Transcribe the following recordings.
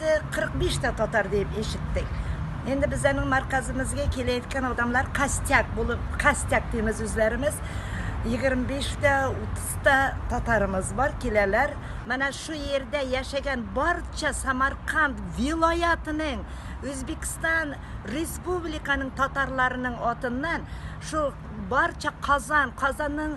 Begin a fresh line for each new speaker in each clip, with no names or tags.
45 тә татар диеп ишеттек. Инде без аның марказымызга киләйткән адамлар костяк булып, костяк димез үзләремез. 25 тә, 30 та татарымыз бар, киләләр. Менә шу йирдә яшәгән барча Самарканд вилаятының, Үзбекстан Республиканың татарларының атыннан, шул барча Казан, Казанның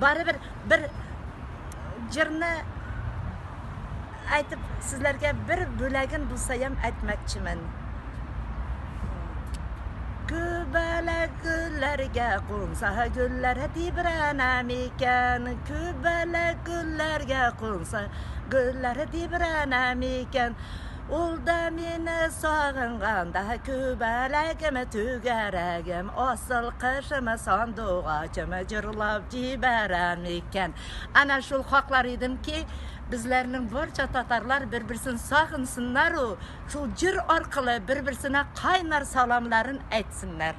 Барыбер бер җырны әйтеп сезләргә бер бүләген булсаем әйтмәкчемен. Күбәлә гөлләргә кунса гөлләр тибрәнә микән? Күбәлә гөлләргә кунса гөлләр тибрәнә микән? Ул да мине сагынганда Күбәләгем, түгәрәгем, Асыл кышым, сандугачым Җырлап җибәрә микән? Әнә шул хаклар идем ки, безләрнең барча татарлар бер-берсен сагынсыннар у, шул җыр аркылы бер-берсенә кайнар саламнарын әйтсеннәр.